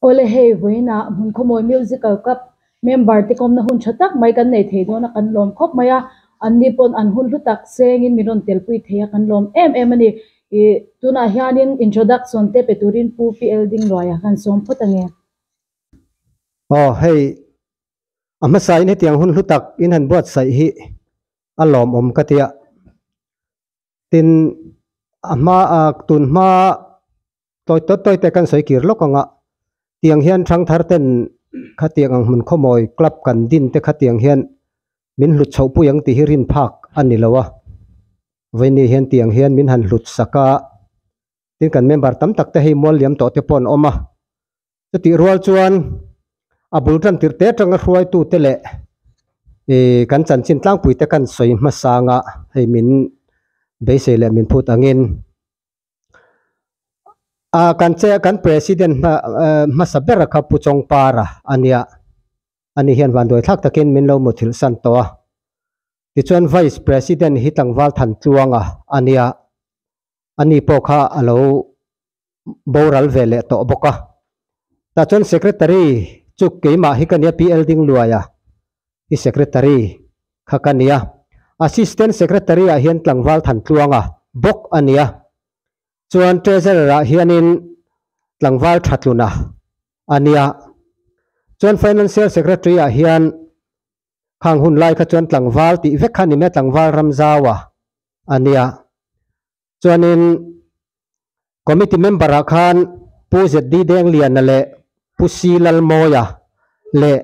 Aw le hei vawiin ah hmun khawmawi musical club member te kawmna hun tha tak mai kan nei thei dawn a kan lawm khawp mai a an ni pawn an hun hlu tak seng in min rawn tel pui thei a kan lawm em em a ni ih tunah hian in introduction te pe turin pu pi elding ruai ah hian sawm phawt a ni. Aw hei a hmasain hetiang hun hlu tak in han buatsaih hi a lawmawm ka tia. Tin a hma a tun hma tawi tawi tawi te kan sawi kir lawk ang a, tiang hian thangthar ten khatiang ang hmun khawmawi club kan din te khatiang hian min hlut chhoh pui ang tih hi rin phak a ni lo a, vawiin hian tiang hian min han hlut sak a, tin kan member tam tak te hei mual liam tawh te pawh an awm a, Chutih rual chuan a bul tantir te atanga hruaitu te leh ihh kan chanchin tlangpui te kan sawi hmasa anga hei min beisei leh min phut angin ahh kan che kan president hma ehh hmasa bera kha Pu Chawngpara a nia ani hian vanduai thlak takin min lo mutthilhsan tawh a tichuan vice president hi tlangval Thantluanga a nia ani pawh kha a lo boral ve leh tawh bawk a. Tah chuan secretary chu keimah hi ka nia P.L Dingluaia hi secretary kha ka nia, assistant secretary ah hian Tlangval Thantluanga bawk a nia, chuan treasurer ah hianin Tlangval Thatluna a nia, chuan financial secretary ah hian khang hun lai kha chuan tlangval tih vek kha a ni mai a, tlangval ram zau a a nia. Chuanin committee member ah khan Pu ZD Dengliana leh Pu C Lalmawia leh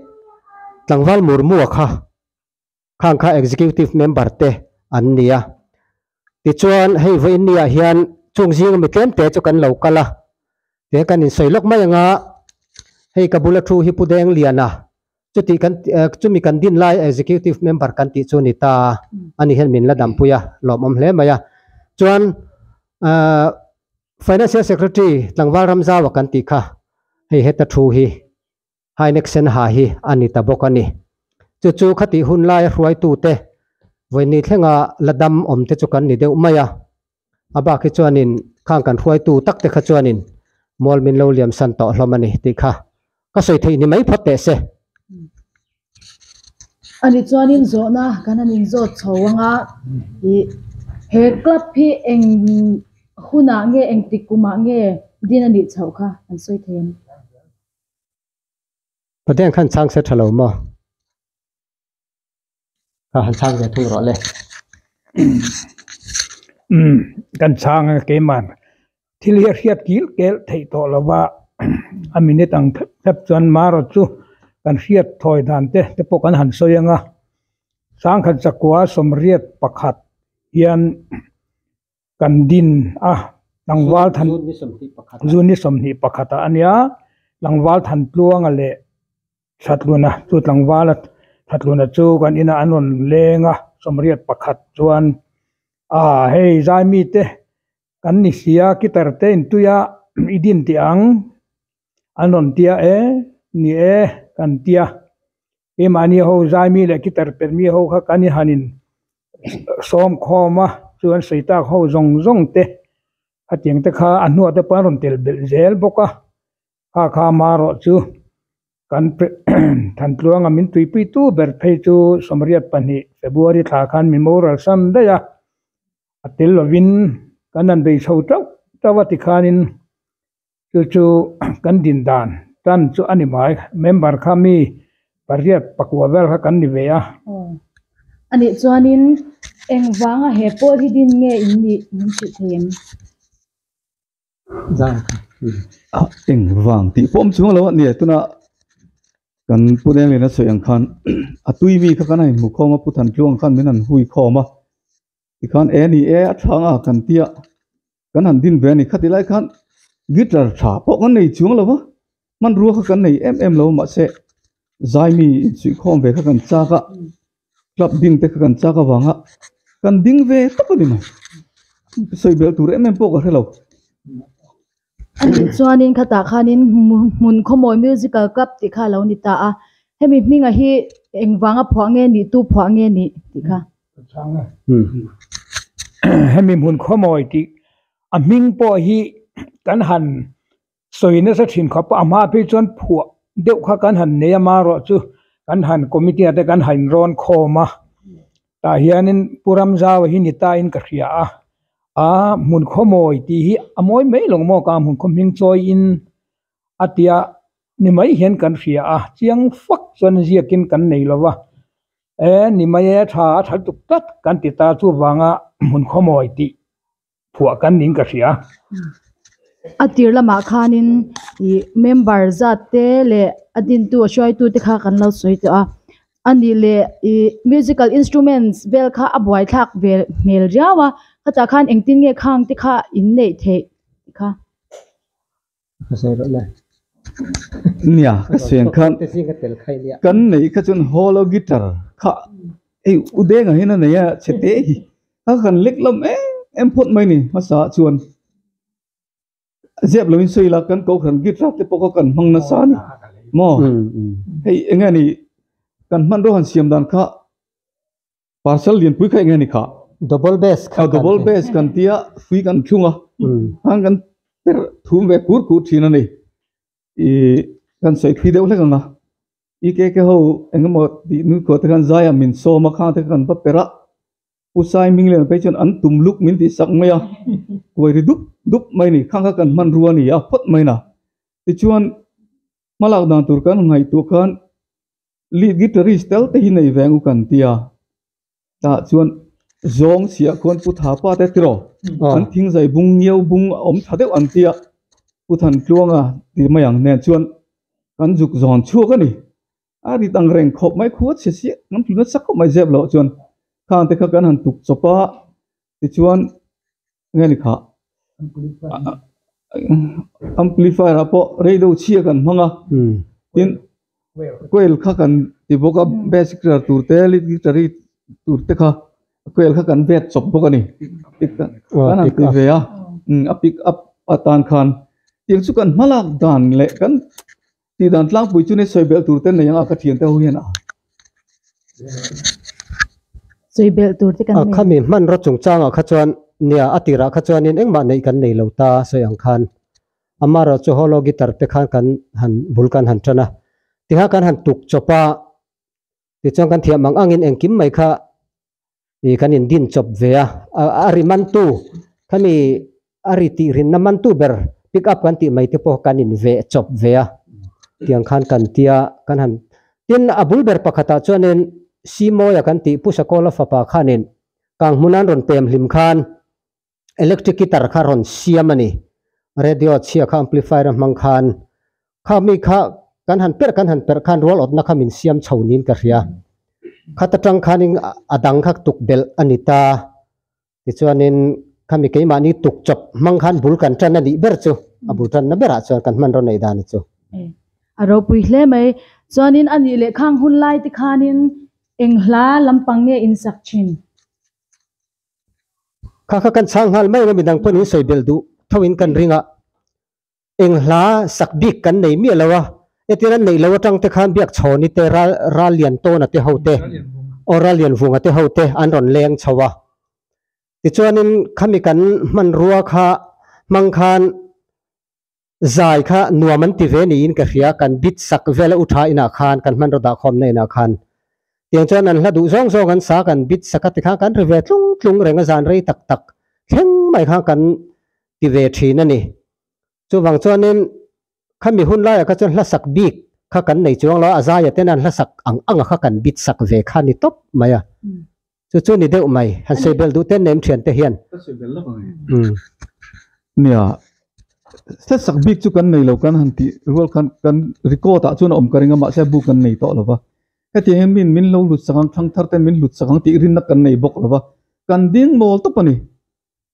tlangval Murmua kha khang kha executive member te an ni a. Tichuan hei vawiin niah hian chung zinga mi tlemte chu kan lo kal a, tiang kan insawi lawk mai anga hei ka bula thu hi Pu Dengliana chutih kan chumi kan din lai Executive Member kan tih chu a ni ta a, ani hian min la dampui a, lawmawm hle mai a. Chuan Financial Secretary tlangval ram zau a kan tih kha hei heta thu hi Hynec sen ha hi a ni ta bawk a ni. Chu chu khatih hun laia hruaitute vawinih thlenga la dam awm te chu kan ni deuh mai a. A bak hi chuanin khang kan hruaitu tak te kha chuanin mual min lo liam san tawh hlawm a ni tih kha ka sawi theih ni mai phawt teh se. Ani chuanin zawhna kan han in zawt chho ang a, ih he club hi eng hunah nge eng tik kumah nge din a nih chhoh kha kan sawi thei a ni. Paden khan chang se thalo mo. Ka han chang ve thung role. Um, kan chang ke man. Thil hiat hiat kil kel thei to lova. A minute ang thep chuan maro chu kan hriat thawi dan te te pawh kan han sawi anga sangkhat chakua sawmriat pakhat hian kan din a tlangval than June ni sawmhnih pakhat ah a nia tlangval than tluanga leh hratluna chu tlangvala hratluna chu kan in ah an rawn leng a sawmriat pakhat chuan ah hei zai mite kan ni sia kitar te in tui a i din teh ang an rawn tia e ni e kan tia Hi mahni ho zai mi leh kitar per mi ho kha kan i han in sawm khawm a, chuan sawitak ho zawng zawng te a tiang te kha a hnuah te pawh an rawn tel belh zel bawk a, hakha hma erawh chu kan thantluanga min tuipui tu ber phei chu Sawmriat pahnih February thla khan min mo ral san daih a, a tel lovin kan han bei chho chauh chauh a tikhan in Chu chu kan din dan tan chu a ni mai. Member kha mi pariat pakua vel kha kan ni ve a. A nih chuanin engvanga he pawl hi din nge in nih min hrilh thei em? A eng vang tih pawh awm chunga lo a ni e. Tunah kan Pu Nenglin a sawi ang khan a tuimi kha kan a inhmu khawm a, Pu Than Tluang khan min han hui khawm a. tikhan e ni e a thlâng a kan tia kan han din ve a ni khati lai khan guitar tha pawh kan nei chuang lo va hmanrua kha kan nei em em lo mahse zaimi insuihkhawm ve kha kan chak a club din te kha kan chak avanga kan ding ve tawp a ni mai sawi bel tur em em pawh ka hre lo. Ani chuanin khatah khanin hmun khawmawi musical club tih kha a lo ni ta a hemi hmingah hi engvanga phuah nge nih tu phuah nge nih tih kha hemi hmun khawmawi tih a hming pawh hi kan han sawi nasa thin kha pawh a hma phei chuan phuah deuh kha kan han nei amarawhchu kan han committee ah te kan han rawn khawm a. tah hianin pu ram zau hi ni tain ka hria a a hmun khaw mawi tih hi a mawi mai lo maw ka hmun khaw hming chawi in a tia ni mai hian kan hria a chiang fak chuan ziakin kan nei lo va e ni mai e tha a tha tuk tlat kan ti ta chuvanga hmun khaw mawi tih. Phuah kan ning ka hria. A tir lamah khanin ih member zat te leh a dintu a hruaitu te kha kan lo sawi tawh a. A nih leh ih musical instruments vel kha a buai thlak ve hmel riau a. Hetah khan engtin nge khang te kha inneih theih kha. nia ka siam khan kan neih kha chuan haw loh guitar kha hei u deng ahin a nei a chete hi a han lek hlawm em em phawt mai a ni hmasa chuan ziak loin sawi ila kan kohhran guitar te pawh kha kan hmang nasa a ni maw hei eng nge ni kan hman rawn han siam dan kha. parcel lianpui kha enge ni kha. Double bass kha kan ti. Double bass kan ti a, fui kan thlung a, an kan per thum ve khur khur thin a ni. I kan sawi phi deuh hlek ang a, i KK ho eng emaw tih nui khua te khan zai a min sawm a, khang te kha kan va per a, Pu Saiming Lian phei chuan an tum luk min tih sak mai a, kuai ri dup dup mai a ni, khang kha kan hman ru a ni a phawt mai in a. Tichuan hmalak dan tur kan ngaihtuah khan lead guitarist tel te hi nei ve ang u kan tia tah chuan zawng siah khawn pu thapa te tilo an thing zai bung ngiau bung a awm tha deuh an tia pu thantluanga ti mai ang nen chuan kan zuk zawn chhuak a ni a rit ang reng khawp mai khuachhia chiah kan tuna chak khawp mai zep loh chuan khang te kha kan han tuk chawp a tichuan nge ni khah amplifier ah pawh radio chhia kan hmang a tin coil kha kan ti bawk a bass guitar tur te lead guitar tur te kha coil kha kan vet chawp bawk a ni kan han ti ve a a pick up atan khan tir chu kan hmalak dan leh kan-- Tih dan tlangpui chu ni sawibelh tur te nei ang a ka thian te ho hian a. Sawibelh tur te kan nei. A khami hman rawt chung changah kha chuan nia a tirah kha chuanin engmah neih kan nei lo ta sawi ang khan ama rawh chu holo guitar te khan kan han bul kan han tan a tiha kan han tuk chawp a. Tichuan kan thiam ang angin engkim mai kha ih kan indin chawp ve a. A ri mantu khami a ri tih rinna mantu ber pick up kan tih mai te pawh kan in ve chawp ve a tiang khan kan tia kan han tin a bul ber pakhatah chuanin Simoia kan tih Pushakola fapa khanin kang hmunan rawn pem hlim khan electric guitar kha rawn siam a ni radio chhia kha amplifier a hmang khan kha mi kha kan han per kan han per khan rual awtna kha min siam chho niin ka hria khata tang khanin a dang kha tuk belh a ni ta tichuanin kha mi keimahni tuk chawp hmang khan bul kan tan a nih ber chu a bul tanna berah chuan kan hman rawn nei dan chu a ropui hle mai chuanin a nih leh khang hun lai te khanin eng hla lampang nge in sak thin. Kha kha kan chhang nghal mai anga midang pawn in sawi belh duh tho in kan ring a, eng hla sak bik kan nei miah lo a, e tir an neih lo atang te khan biak chhawn i te ral ral lian tawna te ho te aw ral lian vunga te ho te an rawn leng chho a, tichuan in khami kan hmanrua kha hmang khan Zai kha nuam an ti ve niin ka hria, kan bit sak vel a u tha inah khan kan hman rawh dah khawmna inah khan. Tiang chuan an hla duh zawng zawng an sa kan bit saka tikhan kan ri ve tlung tlung reng a zan rei tak tak thleng mai kha kan ti ve thin a ni. Chuvang chuanin khami hun laiah kha chuan hlasak bik kha kan nei chuang lo a, a zaia ten an hlasak ang anga kha kan bit sak ve kha a ni tawp mai a. chu chu ni deuh mai, han seibel duh ten nem thiante hian. Ka seibel lawk ang e. Nia, setsak bik chu kan nei lo kan han tih rual khan kan record ah chuan a awm ka ring a mahse a bu kan nei tawh lova, hetiang in mi in min lo hlut sak ang thlang thar ten min hlut sak ang tih rinna kan nei bawk lova, kan ding nawl tawp a ni.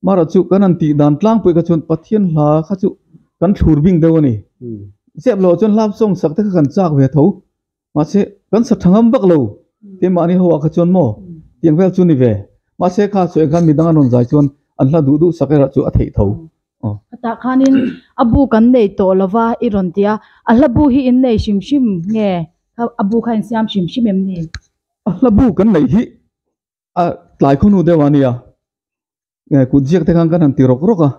Mahra chu kan han tih dan tlang pawh kha chuan Pathian hla kha chu kan thlur bing deuh a ni. Ziah loh chuan hlak zawng sak te kha kan chak ve a tho. Mahse, kan sa tha ngam vak lo keimahni ho ah kha chuan maw tiang vel chu ni ve. Mahse kha sawi khan midang an rawn zai chuan an hla duh duh sak erawh chu a theih tho. Hetah khanin a bu kan nei tawh lo va i rawn ti a, a hla bu hi in nei hrim hrim nge? A bu kha in siam hrim hrim em ni? A hla bu kan neih hi A tlai khaw hnu deuh ah a ni a, eh kut ziak te khan kan han ti rawk rawk a,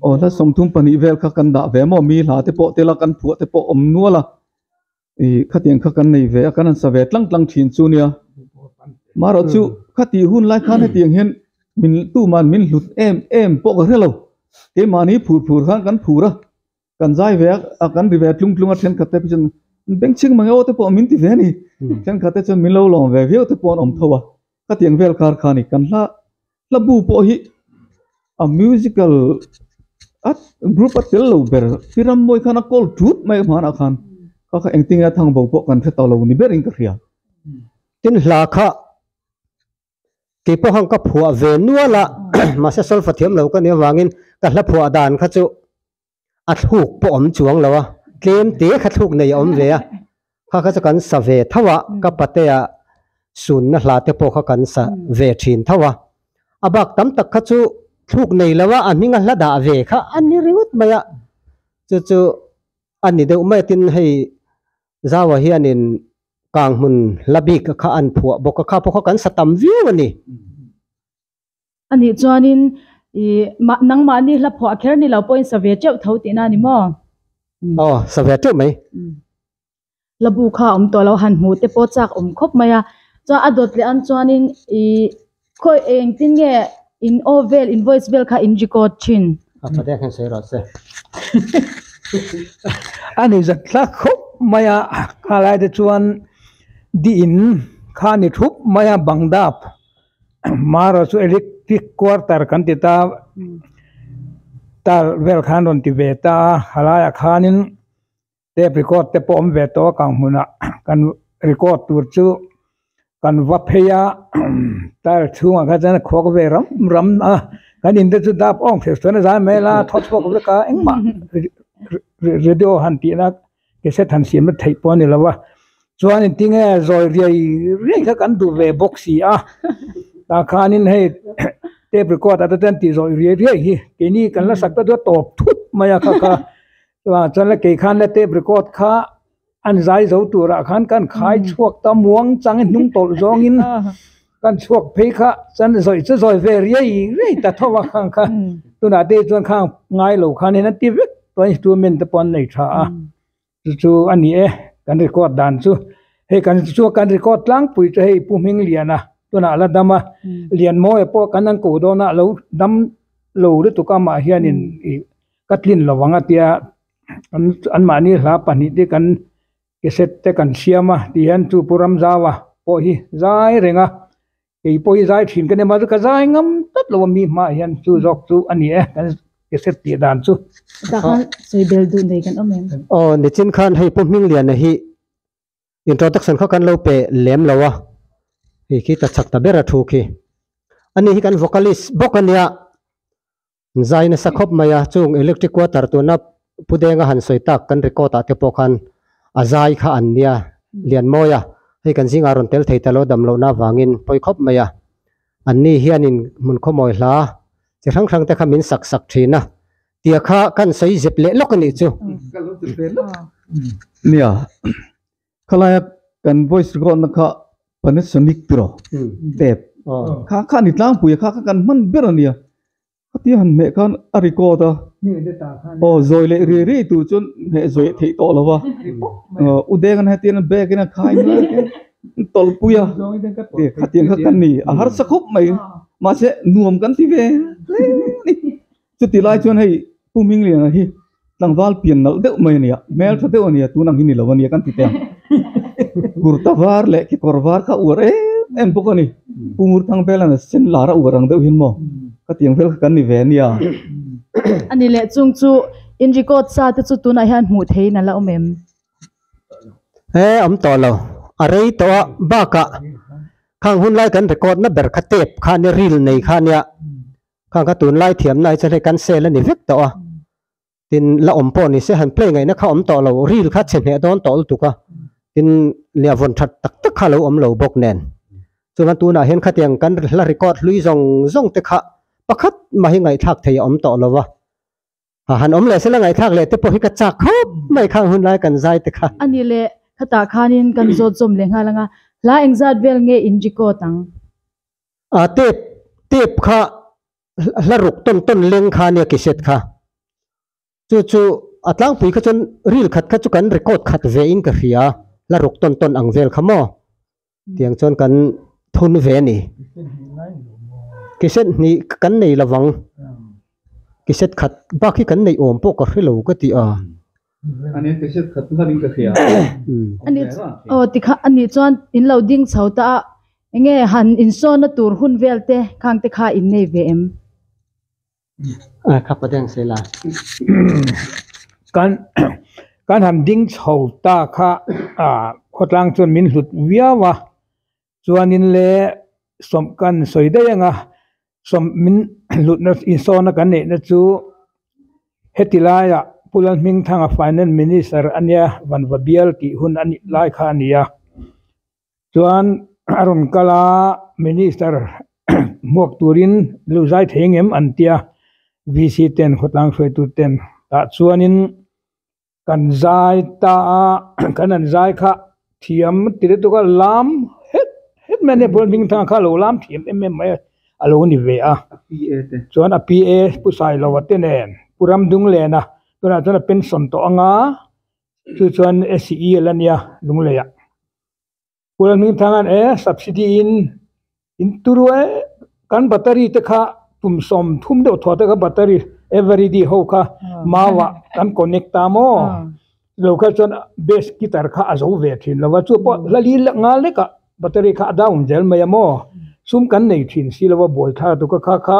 aw hla sawm thum pahnih vel kha kan dah ve maw, mi hla te pawh tel a kan phuah te pawh awm nual a, ih khatiang kha kan nei ve a, kan han sa ve tlang tlang thin chu nia, marawh chu khati hun lai khan hetiang hian min tuman min hlut em em pawh ka hre lo, keimahni phur phur khan kan phur a, kan zai ve a kan ri ve a tlung tlung a thenkhat te pawh chuan benching mang erawh te pawh min ti ve a ni thenkhat te chuan min lo lawm ve viau te pawh an awm tho a khatiang vel kar kha a ni kan hla hla bu pawh hi a musical a group a tel lo ber khi ram mawi khan a kawl ṭut mai hmân ah khan kha kha engtin nge a thang bo pawh kan hre tawh lo ni ber in ka hria tin hla kha tih pawh khan ka phuah ve nual a mahse solfa thiam lo ka nih avangin ka hla phuah dan kha chu a thluk pawh awm chuang lo a tlem te kha thluk nei a awm ve a kha kha chu kan sa ve tho a ka patea sunna hla te pawh kha kan sa ve thin tho a a bak tam tak kha chu thluk nei lo a a hminga hla dah ve kha a ni ringawt mai a chu chu a ni deuh mai a tin hei Zau-a hianin kang hmun hla bik kha an phuah bawk a, kha pawh kha kan sa tam viau a ni. A nih chuanin, Ih, mah, nangmahni hla phuah kher ni lo pawhin sa ve teuh tho tihna a ni maw? Aw, sa ve teuh mai. Hlabu kha awm tawh lo han hmuh te pawh chak awm khawp mai a. Chuan a dawt leh an chuanin, Ih. Khawi engtin nge in aw vel invoice vel kha in record thin. A pa dek hian sawi rawh se. A ni zat hla khawp mai a, kha lai te chuan dih in kha a ni thup mai a bang dap hma erawh chu electric kuar tar kan ti ta tar vel kha an rawn ti ve ta a, a lai ah khanin. tape record te pawh awm ve tawh a kan hmunah kan record tur chu kan va phei a tile chhungah kha chuan khuak ve ram ram a kan in te chu dap awm thes chuan a zai hmel a thawt chhuak vek a engmah radio han tihna cassette han siamna theih pawh a ni lo va chuanin tinge zawi riai riai kha kan duh ve bawk si a tah khanin hei tape record ah te chuan tih zawih riai riai hi keini kan la sak ta chu a tawp thut mai a kha kha. Aa chuan la kei khan la tape record kha an zai zo turah khan kan khai chhuak ta muang chang in hnung tawlh zawngin kan chhuak phei kha chuan zawih chu zawi ve riai riai ta tho a khang kha tunah te hi chuan khang ngai lo khan in an ti vek tuan instrument te pawh an nei tha a chu chu a ni e kan record dan chu hei kan chu kan record tlangpui chu hei Pu Hming Liana tunah a la dam a Lianmawi pawh kan han koh dawn a a lo dam lo lutuk a mah hian in ih-- ka tlin lo vang a tia an an mahni hla pahnih te kan cassette te kan siam a ti hian chu pu ramzau-a pawh hi zai reng a kei pawh hi zai thin ka nem a ka zai ngam tlat lo a mi hma ah hian chu zawk chu a ni e kan cassette tih dan chu aw nichin khan hei pu hmingliana hi introduction kha kan lo pe lem lo a hei khi ta chak ta ber a thu khi ani hi kan vocalist bawk a nia Zai nasa khawp mai a, chung electric water tuna Pu Denga han sawi tak kan record ah te pawh khan a zai kha an nia lian mawi a, hei kan zingah rawn tel thei ta lo dam lohna avangin pawi khawp mai a, an ni hianin hmun khawmawi hla chi hrang hrang te kha min sak sak thin a tia kha kan sawi zep leh lawk a nih chu. Khalaia kan voice record na kha Panasonic tiraw tep kha kha ni tlangpuia kha kha kan hman ber ania hatia han hmeh khan a record a aw zawi leh ri ri tur chuan hmeh zawih a theih tawh lo va u deng an hetian an bag in a khai nual a keng an tawlhpuia e khatiang kha kan ni a harsa khawp mai mahse nuam kan ti ve hle a ni. Chuti lai chuan hei Pu Mingliana hi tlangval pian nalh deuh mai a ni a, hmel tha deuh a ni a, tun ang hi ni lo a nia kan ti teh ang. Kurta var leh kekawr var kha a uar em em bawk a ni. Pu Murthang Belana sen lar a uar ang deuh hian maw ka tiang vel kha kan ni ve a nia. A ni leh chung chu in record sa te chu tunah hian hmuh theihin a la awm em? He awm tawh lo, a rei tawh a, bakah khang hunlai kan record na ber kha tape kha ania, reel nei kha ania Khang kha tunlai thiamna hi chuan hei kan sale a ni vek tawh a, tin la awm pawh ni se han play ngaihna kha awm tawh lo, ril kha chhe hneh dawn tawh lutuk a, tin nia vawn that tak tak kha a lo awm lo bawk nen. Chuan hma tunah hian khatiang kan la record hlui zawng zawng te kha pakhat mah hi ngaihthlak thei a awm tawh lo va. A han awm leh se la ngaihthlak leh te pawh hi ka chak khawp mai kha hun lai kan zai te kha. A nih leh khatah khanin kan zawt zawm leh nghal ang a, hla eng zat vel nge in record ang? A tape tape kha hla ruk tawn tawn leng kha nia cassette kha. Chu chu a tlangpui kha chuan ril khat kha chu kan record khat ve in ka hria hla ruk tawn tawn ang vel kha maw. tiang chuan kan thun ve a ni ke hriat hnih kan nei lo vang ke hriat khat bak hi kan neih awm pawh ka hre lo ka ti a aw tikha a nih chuan in lo ding chho ta a eng nge han insawn na tur hun vel te khang te kha in nei ve em. Kan kan han ding chho ta kha ah khawtlang chuan min hlut viau a chuanin le sawmh kan sawi daih ang a sawmh min hlutna insawmna kan neihna chu heti laia Pula Hmingthanga Finance Minister ania Van Va Bial tih hun anih lai kha ania. chuan a rawn kal a minister hmuak turin luzai thei ang em an tia v c ten khawtlang hruai tu ten tah chuanin kan zai ta a kan an zai kha thiam ti lutuk a lam het het mai a nia building thlang ah kha a lo lam thiam em em mai a lo ni ve a chuan a pu sailo te nen pu ramdunglena tunah chuan a pensawn tawh ang a. chu chuan SEL a nia Lunglei ah Kula Hmingthang hian e subsidy in in turu e kan battery te kha kum sawm thum deuh thuah te kha battery everyday ho kha mau ah kan connect ta maw lo kha chuan bass guitar kha a zo ve thin lo va chu pawh la li lek nghal lek ah battery kha a down zel mai a maw sum kan nei thin si lo va buai thla tu ka kha kha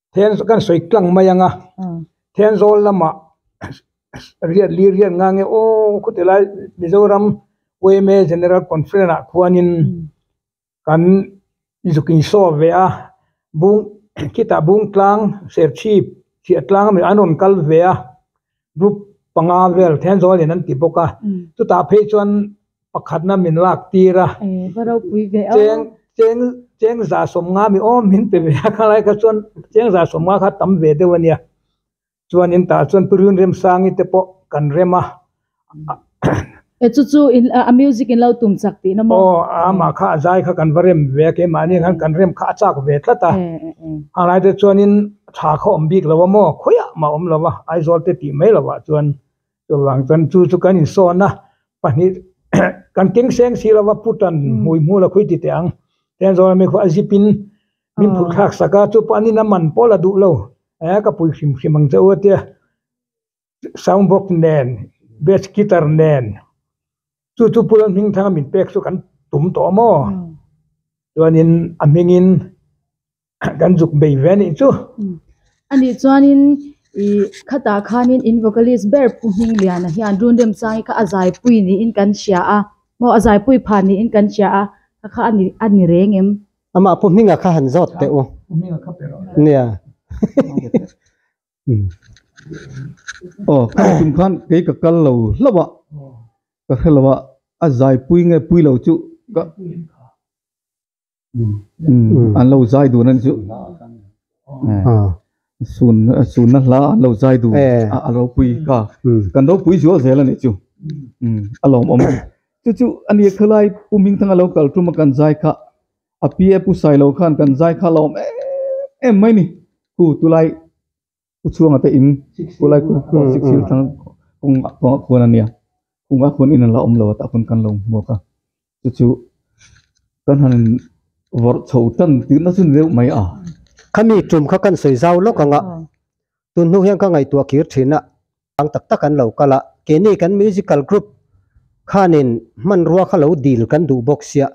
thian kan sawi tlang mai ang a thianzawl lamah riat lir riat ngang nge aww khawti lai mizoram yma general conference ah khuanin kan zuk in show ve a bung khitah bungtlang serchhip hriattlang a rawn kal ve a. Group panga vel thian zawl in an ti bawk a, chutah phei chuan pakhatna min lak tir a, cheng cheng chengza sawmnga mi awm min pe ve a, khanlai kha chuan chengza sawmnga kha tam ve deuh a nia, chuanin tah chuan Pu Rinremsangi te pawh kan rem a. E chu chu in a music in lo tum chak tihna maw. Aw a amah kha a zai kha kan va rem ve a keimahni khan kan rem kha a chak ve tlat a, helai te chuanin tha kha awm bik lo a maw khawiah mah a awm lo a, Aizawl te tih mai lohah chuan chuvang chuan chu chu kan insawn a, pahnih kan keng seng si lova pu tan hmui hmu la khui ti teh ang, tiang zawng ami khaw a zip in min phut thlak sak a, chu pawh an in a man pawl a duh lo, e ka pui hrim hrim ang che u a tia. sound box nen bass guitar nen chu chu pula hming thang a min pek chu kan tum tawh a maw chuanin a hmingin kan zuk bei ve anih chu a nih chuanin ih khatah khanin in vocalist ber Pu Hming Liana hian run remchang i kha a zaipui niin kan hria a maw a zaipui pha niin kan hria a kha kha a ni reng em amah Pu Hming a kha han zawt teh u nia. aw khang chung khan kei ka kal lo hlauh a ka hre lo a a zaipui nge pui lo chu ka an lo zai dun a ni chu sun sunna hla an lo zai dun a lo pui ka kan ropui zual zel a nih chu a lawmawm chu chu ani khalai pu Hmingthanga lo kal tum a kan zai kha. A pi a pu sai lo khan kan zai kha lawm em em mai ni. Pu tu lai pu chhuanga te in pu lai pu khuan sik sik thlang kawng ah kawng ah khuan a nia kawng ah khuan in an la awm lo a tah khawn kan lo hmuak a chu chu kan han vawrh chho tan tihna chu ni deuh mai a. Khami tum kha kan sawi zau lawk ang a, tun hnung hian ka ngaihtuah kir thin a, ang tak tak an lo kal a, keini kan musical group khanin hmanrua kha lo dil kan duh bawk sia.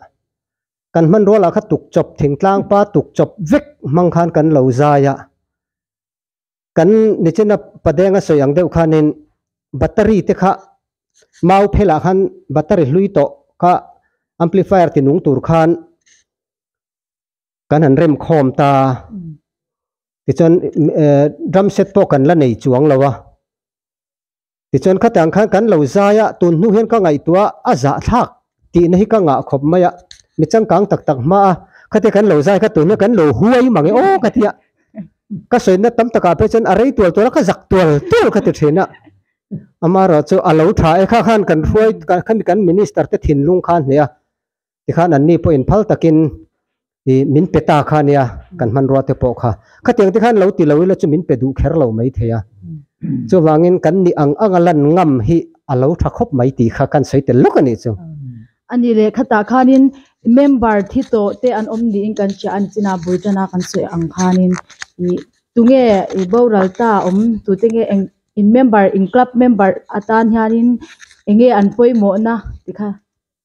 kan hmanrual ah kha tukchawp thingtlang pa tukchawp vek hmang khan kan lo zai a, kan nichina padenga sawi ang deuh khanin battery te kha mau phel ah khan battery hlui tawh kha amplifier tinung tur khan kan han rem khawm ta, tichuan drum set pawh kan la nei chuang lo a. Tichuan khatiang khan kan lo zai a, tun hnu hian ka ngaihtuah a zahthlak tihna hi ka ngah khawp mai a, mi changkang tak tak hma a khatia kan lo zai kha tun hian kan lo huai mang e aw ka ti a, ka sawiinna tam takah phei chuan a rei tual tual a ka zak tual tual ka ti thin a, amaherawhchu a lo tha e kha khan kan hruai kan kan minister te thinlung khan hliah a, Tikhan an ni pawhin phal takin i min pe ta kha nia kan hmanrua te pawh kha khatiang te khan lo ti lo ila chu min pe duh kher lo mai thei a. Chuvangin kan nih ang anga lan ngam hi a lo tha khawp mai tih kha kan sawi tel lawk a nih chu. A nih leh khatah khanin member thi tawh te an awm niin kan hria a ni chinah bul tana kan sawi ang khanin ih tunge i boral ta awm tute nge eng in member in club member atan hianin enge an pawimawhna tikha.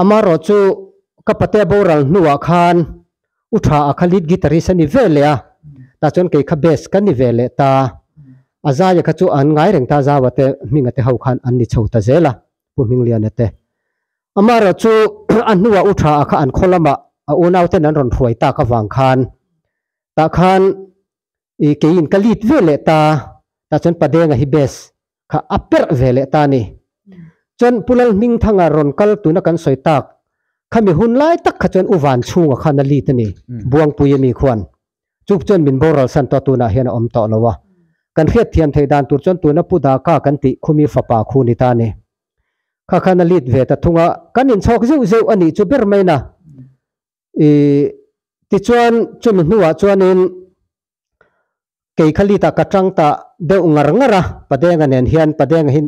Amarawh chu ka pate a boral hnuah khan u tha a kha lead guitarist a ni ve leh a, tah chuan kei kha bass ka ni ve leh ta. A zaia kha chu an ngai reng ta zau ate hming ate ho khan an ni chho ta zel a, Pu Hmingliana te. Amarawh chu a hnua u tha a kha an khaw lamah a unauten an rawn hruai tak avang khan tah khan i keiin ka lit ve leh ta, tah chuan Padenga hi base kha a perh ve leh ta ni. Chuan Pu Lalhmingthanga rawn kal tuna kan sawi tak, khami hun lai tak kha chuan U Vanchhunga khan a lit a ni, Buangpui ami khuan. Chu chuan min boral san tawh tunah hian a awm tawh lo a. Kan hriatthiam thei dan tur chuan tuna Pu Daka kan tih khumi fapa khu ni ta ni. Kha khan a lit ve ta thung a, kan inchhawk zeuh zeuh a nih chu ber maina Ih, tichuan chumi hnuah chuanin kei kha lit ah ka tang ta deuh ngar ngar a, Padeng-a nen hian, Padeng hi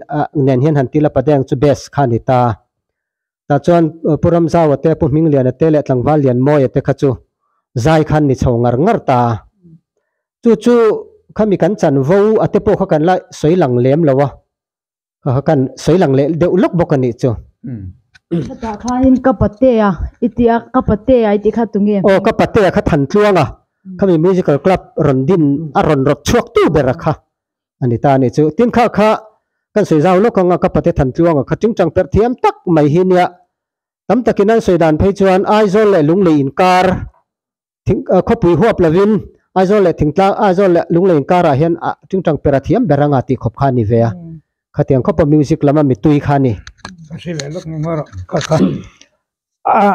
nen hian han tila, Padeng chu best kha a ni ta. Tah chuan Pu Ramzau-a te, Pu Hmingliana te leh Tlangval Lianmawia te kha chu zai kha an ni chho ngar ngar ta. Chu chu khami kan chanvo a te pawh kha kan la sawi lang lem lo a, kan sawi lang leh deuh lawk bawk a nih chu. Hetah khanin ka pate a i tih a, ka pate a i tih kha tunge? Aw ka pate a kha than tluang a, khami musical club rawn din a rawn rawt chhuak tu ber a kha a ni ta a nih chu. Tin kha kha kan sawi zau lawk ang a, ka pate than tluang a kha ṭing ṭang perh thiam tak mai hi nia tam takin an sawi dan phei chuan Aizawl leh Lunglei inkar Thing khawpui huap lovin Aizawl leh Thingtlang, Aizawl leh Lunglei inkarah hian a tingtang perh a thiam ber anga tihkhawp kha a ni ve a. Khatiang khawpa music lama mitui kha a ni. Ka hre leh lawk engmah rawh ka kha. A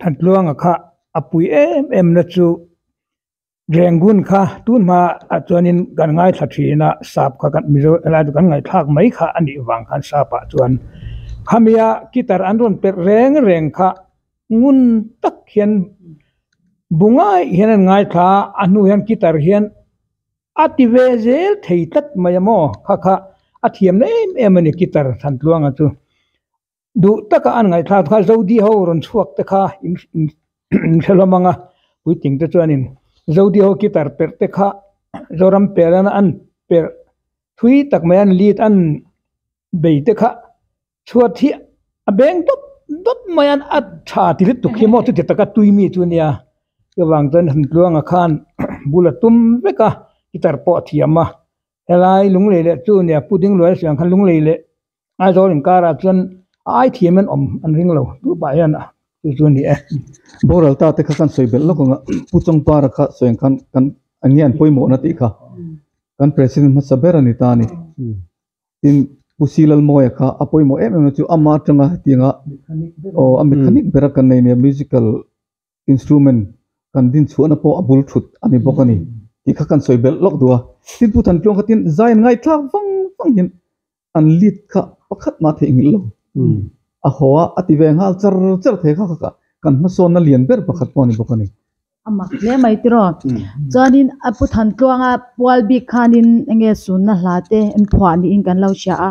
Thantluanga kha a pui em em na chu Rangoon kha tunhmaah chuanin kan ngaithla thin a, sap kha kan Mizo helai chu kan ngaihthlak mai kha a nih vang khan sapah chuan khamia guitar an rawn perh reng reng kha. ngun tak hian bu ngai hian an ngaithla a a hnungah hian guitar hian a ti ve zel thei tlat mai a maw kha kha a thiam na em em a ni guitar han tluanga chu duh taka an ngaih thlak kha zo diho rawn chhuak te kha hre hlawm ang a puitling te chuanin zo diho guitar perh te kha zoram perh an perh thui tak mai an lit an bei te kha-- Chhuat hi a beng dawp dawp mai a a tha ti lutuk hi amaw chuti taka tui mi chu nia chuvang chuan han tluanga khan bula tum vek a guitar pawh a thiam a helai lunglei leh chu nia pu dingluai a siam khan lunglei leh aizawl inkara chuan a ai thiam hian awm an ring lo tupah hian a chu chu ani e boral ta te kha khan sawi belh lawk ang a pu chawngpara kha sawi ang khan kan enge an pawimawhna tih kha kan president hmasa ber ani ta a ni. tin Pu Silalmawia kha a pawimawh em em a chu ama atanga hetianga aw a mit thanik ber a kan nei nia musical instrument kan din chhuahna pawh a bul thut a ni bawk a ni tih kha kan sawi belh lawk duh a tin Pu Thantlawng kha tin zain ngaihtlak vang vang hian an lead kha pakhat mah theihnghilh lo a haw a a ti ve nghal char char thei kha kha kan hmasawnna lian ber pakhat pawh a ni bawk a ni. A mak hle mai te rawh. Chuanin a pu than tluanga pual bik khanin enge sunna hla te en phuah niin kan lo hria a.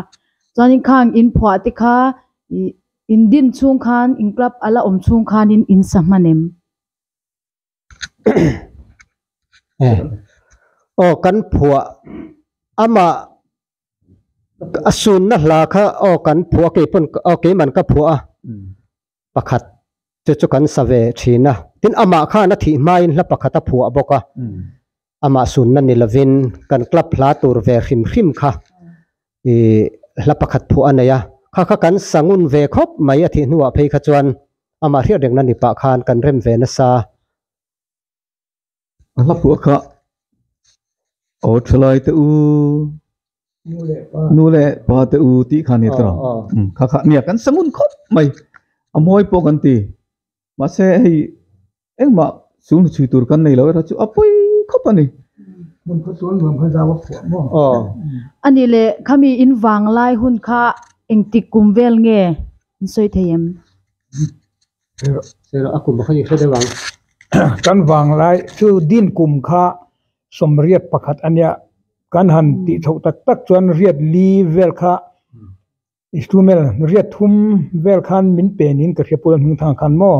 Chuanin khang in phuah te kha ih in din chhung khan in club a la awm chhung khanin in sa hman em? Aw kan phuah amah a sunna hla kha aw kan phuah kei pawn aw kei man ka phuah a. pakhat te chu kan save thin a tin amah khan a thih hmain hla pakhat a phuah bawk a amah sunna ni lovin kan club hla tur ve hrim hrim kha ih hla pakhat phuah a nei a kha kha kan sa ngun ve khawp mai a thih hnuah phei kha chuan amah hriat reng na ni pah khan kan rem ve nasa. a hla phuah kha aw thalai te u nu leh pa te u tih kha ni ta lo kha kha nia kan sangun khawp mai a mawi pawh kan ti mahse hei engmah chhun chhui tur kan nei lo erawh chu a pawi khawp a ni. A ni le khami in vang lai hun kha engtik kum vel nge in sawi thei em? kan vang lai chu din kum kha sawmriat pakhat a nia kan han tih chhoh tak tak chuan riat li vel kha instrument riat thum vel khan min pen in ka hriatpui hming thang khan maw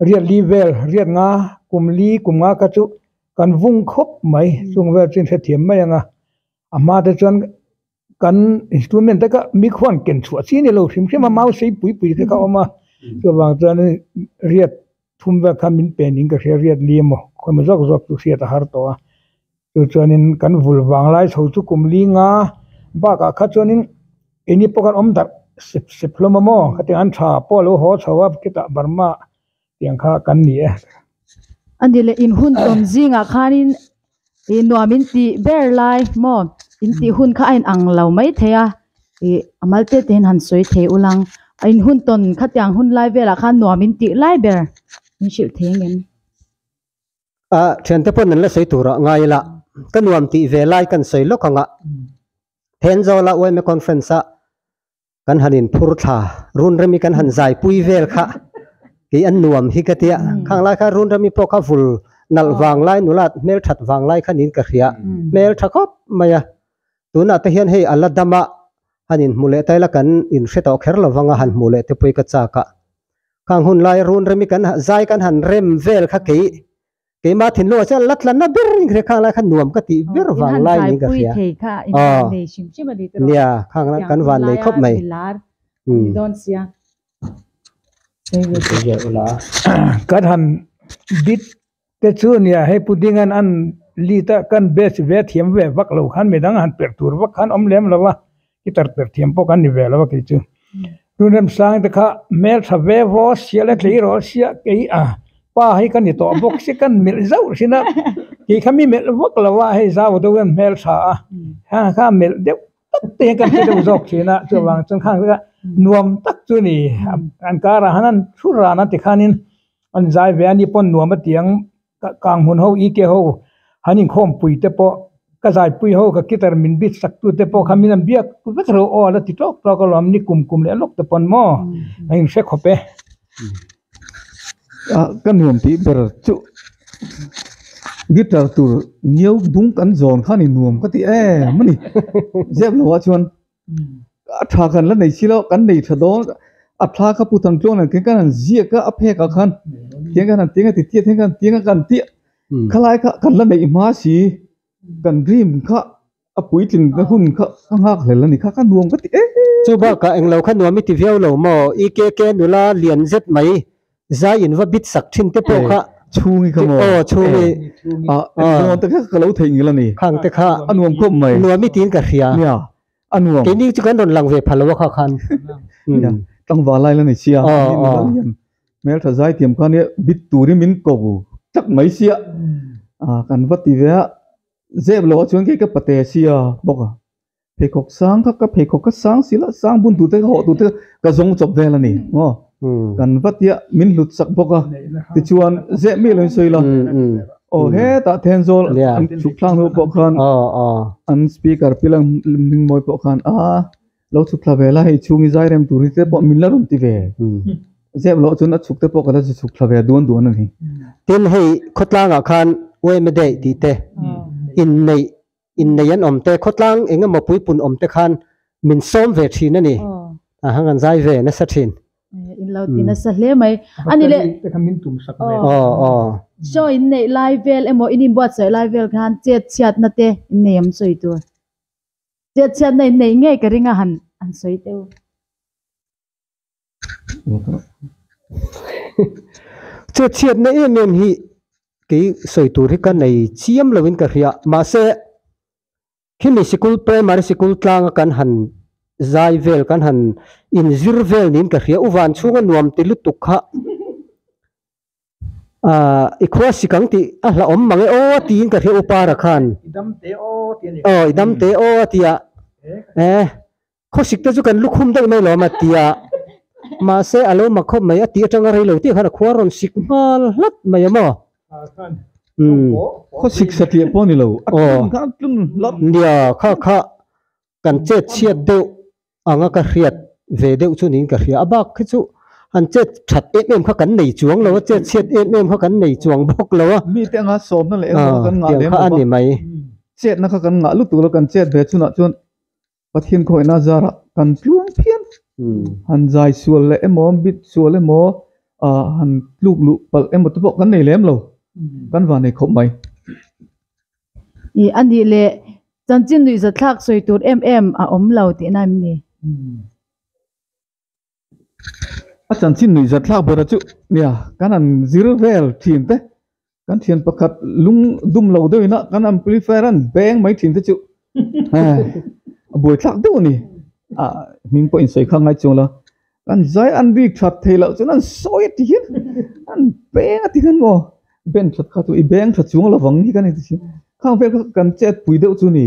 riat li vel riat nga kum li kum nga kha chu kan vung khawp mai chung vel chu in hrethiam mai ang a a hma te chuan-- kan instrument taka mic ho an ken chhuah chiah nilo hrim hrim a mau sei pui pui te ka awm a chuvang chuan riat thum vel khan min pen in ka hria riat li emaw khawina zawk zawk chu hriat a har tawh a chu chuanin kan vul vang lai chho chu kum linga bakah kha chuanin eni pawh khan awm darh sep sep hlawm a maw hetiang an tha pawh a lo haw chho a khitah bar ma-- Tiang kha kan ni e. A ni le inhun tawn zingah khanin ih nuam in tih ber lai maw? Intihhun kha a inang lo maithei a, ih a malte tehin han sawi thei ulang. A inhun tawn khatiang hun lai velah khan nuam in tih lai ber min hrilh thei angem? A thiante pawn an la sawi tur ah ngai ila, ka nuam tih ve lai kan sawi lawk ang a. Phenzawl a uaime conference ah kan han in phur thla run remi kan han zai pui vel kha kei an nuam hi ka tia khang lai kha run remi pawh kha vul nalh vang lai nula hmel that vang lai kha niin ka hria hmel tha khawp mai a tunah te hian hei a la dam a han in hmu leh ta ila kan in hre tawh kher lo vang a han hmu leh te pawh i ka chak a khang hun lai run remi kan zai kan han rem vel kha kei keima thinlung a chiah la tlan na ber in ka hre khang lai kha nuam ka ti ber vang lai niin ka hria aw nia khang lai kan van nei khawp mai ka han bit te chu nia hei pu ding an an lit a kan best ve thiam ve vak lo khan midang han perh tur vak khan awm lem lo a. I tar ber thiam pawh kan ni ve lo a kei chu tun remsang te kha hmeltha ve vaw sial a tleiraw a sia kei a pa hi ka ni tawh bawk si kan melh zauh sin a kei kha mi melh vak lo a hei zau deuh hian hmeltha a khang kha melh deuh tak te hian kan hre deuh zawk thin a chuvang chung khang kha nuam tak chu ni an karah han an thu ran a tikhanin an zai ve a ni pawh nuam atiang. Ka kang hun ho i ke ho han inkhawm pui te pawh ka zai pui ho ka kitar min bit sak tu te pawh kha min han biak vek hreu aw ala ti tawk tawk a lo an ni kum kum leh lawk te pawh an ni maw ka in hre khawp e ka nuam tih ber chuh guitar tur nio dum kan zawn khan i nuam ka ti em mawni ziak lo a chuan A tha khan la nei silo kan nei tha dawn a thla kha pu tan chuan an keng khan an ziak a a phek ah khan keng khan an teng a ti chiah thenkhan an teng a kan tih kha lai kha kan la neih hma si kan dream kha a puitling na hun kha ka nghak hlel a ni kha ka nuam ka ti e. Chu bakah englo kha nuam i ti viau lo maw i kk nula lian zet mai. Zai in va bit sak thin te pawh kha. Eh, chhungi ka maw? Aw, chhungi. Eh, ah, ah. Engmah nuam tak hian ka lo theih ngil a ni. Khang te kha. A nuam khawp mai. Nuam i tiin ka hria. Nia, a nuam. Keini chu kan rawn lang ve phal lo a kha khan. Nia, tlangval lai la ni sia. Aw, aw. Min ni val hian Hmeltha Zaithiam kha nia bit tur i min ko tlat mai sia. Ah, kan va ti ve a. Zep lo a chuan kei ka pate sia bawk a. pheikhawk sang kha ka pheikhawk ka sang si la sang bun tur te ka hawh tur te ka zawng chawp vel a ni maw kan va tia min hlut sak bawk a tichuan zeh mi loin sawi la aw hetah Thenzawl an chhuk thlang hnu pawh khan an speaker pil an hming mawi pawh khan a lo chhuk thla ve la hei chhung i zai rem tur hi te pawh min la rawn ti ve zep loh chuan a chhuk te pawh ka la zui chhuk thla ve duan duan a ni tin hei khawtlangah khan wehmeday tih te inneih Innei an awm te, khawtlang eng emaw puipunn awm te khan min sawm ve thin a ni. A han rawn zai ve nasa thin. In lo ti nasa hle mai a ni le. Battery te khan min tum sak ve a. Aw aw. Saw in neih lai vel emaw in inbuatsaih lai vel khan chetchhiatna te innei awm sawi tur. Chetchhiatna in neih ngei ka ring a han sawi teuh. che chhiat na em em hi kei sawi tur hi ka nei chiam lo in ka hria mahse khi mi sikul primary sikul tlang a kan han zai vel kan han in zir vel niin ka hria u vanchhung a nuam ti lutuk kha ah i khuasik ang tih a hla awm mang e aw tiin ka hria u para khan i dam teh aw tia eh. Khawsik te chu kan lukhum daih mai lo ama ti a, mahse a lo mak khawp mai a tih atanga rei lo tih khan a khuar rawn sik nghal hlat mai a maw? Umm khawsik satliah pawh a ni lo, a tlun khan a tlun hlat. Nia kha kha kan chet chhiat deuh ang a ka hriat ve deuh chu niin ka hria a bak khi chu han chet that em em kha kan nei chuang lo a, chet chhiat em em kha kan nei chuang bawk lo a. Mite anga sawmna leh engmah kha kan ngah lem lo va, chetna kha kan ngah lutuk lo kan chet ve chhunah chuan Pathian khawina zarah kan tluang phian, han zai sual leh emaw, han bit sual emaw, han tluk luh palh emaw te pawh kan nei lem lo, kan va nei khawp mai. Ih a nih leh, chanchin nuihzat thlak sawi tur em em a awm lo tihna em ni? a chanchin nuih zat thlak bera chuh nia kan han zir vel thin te kan thian pakhat lung dum lo deuh ina kan amplifier a han beng mai thin te chu eh a buai thlak deuh a ni a hming pawh insawi kha ngai chuanglo kan zai an bik that thei loh chuan an sawi a ti hian an beng a ti khan maw ben that kha chu i beng tha chuang lovang hi ka ni tih hriat khang vel kha kan chet pui deuh chu ni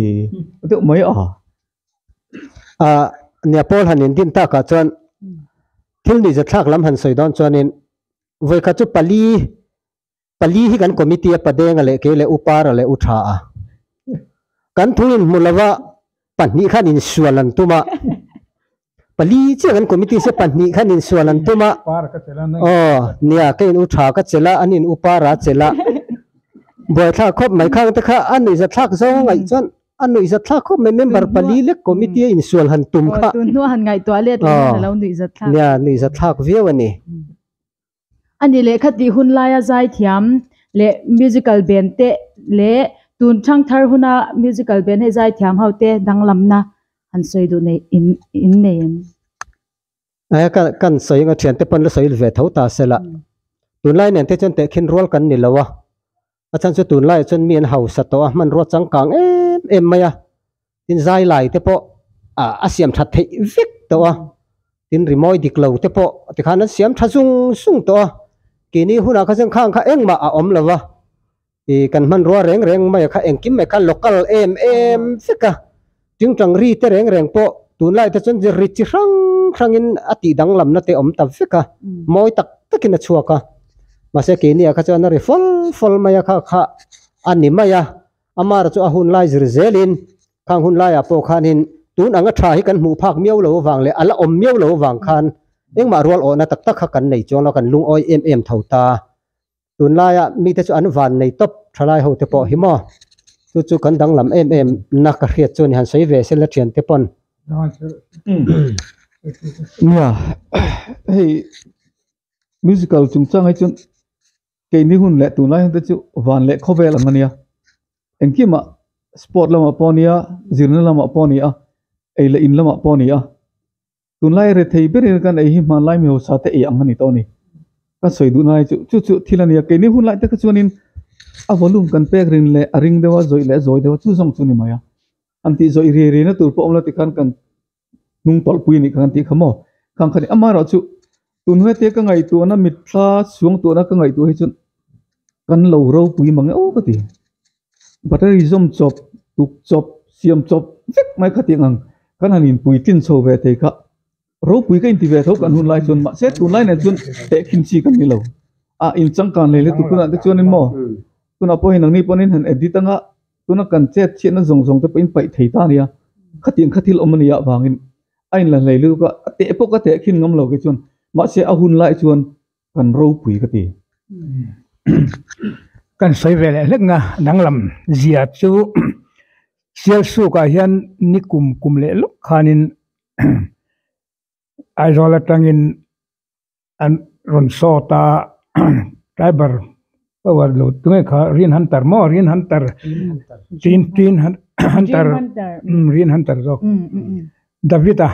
deuh mai a. Aa, nia Paul han indin takah chuan thil nihzatthlak lam han sawi dawn chuanin vawi kha chu pali, pali hi kan committee a padenga leh kei leh upara leh uthaa kan thu inhmu lova pahnih khan insual an tum a, Pali chiah kan committee se pahnih khan insual an tum a, aw nia ka in u tha ka chelh a, an in u par a chelh a, buaithlak khawp mai khang te kha a nuih zathlak zawng a ngaih chuan a nuih zathlak khawp mai member pali lek committee a insual han tum kha, aw nia nuih zathlak viau a ni. A ni lehkha tih hun laia zai thiam leh musical band te leh tun chhang thar huna musical band he zai thiam ho te danglam na han sawi duh neih in in nei ang a. a chhan chu tunlai ah chuan mi an hausa tawh a hmanrua changkang em em mai a tin zailai te pawh ah a siam tha theih vek tawh a tin rimawi dik lo te pawh tikhan an siam tha zung zung tawh a kehni hunah kha zengkhang kha engmah a awm lova ih kan hmanrua reng reng maia kha engkim mai kha local em em vek a. Tingtang ri te reng reng pawh tunlai te chuan ri chi hrang hrangin a tih danglamna te awm ta vek a, mawi tak takin a chhuak a. Mahse keini-ah kha chuan a ri fawlh fawlh mai a, kha kha a ni mai a. Amara chu a hun lai zir zelin khang hun laiah pawh khanin tun anga tha hi kan hmuh phak miau lo avang leh a la awm miau lo avang khan engmah rual awhna tak tak kha kan nei chuang lo, kan lungawi em em tho ta. tunlaia mite chu an van nei tawp tha lai ho te pawh hi maw chu chu kan danglam em em na ka hriat chu a ni han sawi ve se la thian te pawn nia hei musical chung chang hi chuan keini hun leh tunlai hun te chu van leh khawvel ang a nia engkimah sport lamah pawh a nia zirna lamah pawh a ni a ei leh in lamah pawh a ni a. tunlai re thei ber in kan ei hi hmanlai mi haw sa te ei ang a ni tawh a ni ka sawi duh na lai chu chu chu thil a ni a kei ni hun lai tak a chuan in a volume kan pek rin leh a ring deuh a zawih leh zawi deuh a chu zawng chu ni mai a an tih zawih riai riai na tur pawh awm lo ti khan kan hnung tawlh pui a nih kha kan tih kha maw khang kha ni amaherawhchu. Tun hete ka ngaihtuahna mitthla chuangtuahna ka ngaihtuah hi chuan kan lo ropui mang ngeuh ka ti. Battery zawm chawp, tuk chawp, siam chawp vek mai kha tih ang kan han inpui tlin chho ve thei kha ropui ka inti ve tho kan hun lai chuan mahse tunlai nen chuan tehkhim chi ka nilo a in changkan leh leh tukunah te chuan maw tunah pawh hi nangni pawn in han edit anga. Tuna kan chetchiahna zawng zawng te pawhin paih thei ta a nia. Khatiang kha thil awm a nih ah vangin a inla hlei lut a, a teh pawh ka teh a khin ngam lo ke chuan mahse a hun lai chuan kan ropui ka ti. Kan sawi ve leh hlekna danglam zia chu Sial Suk ah hian ni kum kum leh lawk khanin Aizawl atangin an rawn sawt a driver ho an lo ti mai kha rian han tar maw rian han tar tin tin han han tar imm rian han tar zawk David a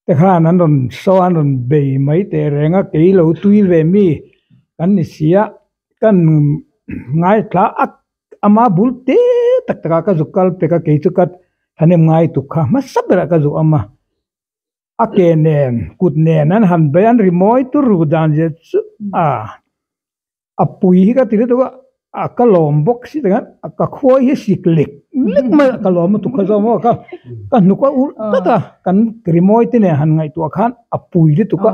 te khan an rawn saw a an rawn bei mai teh reng a kei lo tui ve mi kan ni si a kan ngaithla ak ama bul te tak takah ka zuk kal pek a kei chu ka thanem ngai tuk kha hmasa berah ka zuk awm a. A ke nen kut nen an han beih an ri mawi tur ru dan zia chu ah a pui hi ka ti lutuk a a ka lawm bawk si takhin a ka khawi hi a sik lek lek mai a ka lawm lutuk kha zawng maw ka ka hnuk a ulh tlat a kan rimawi te nen han ngaihtuah khan a pui lutuk a.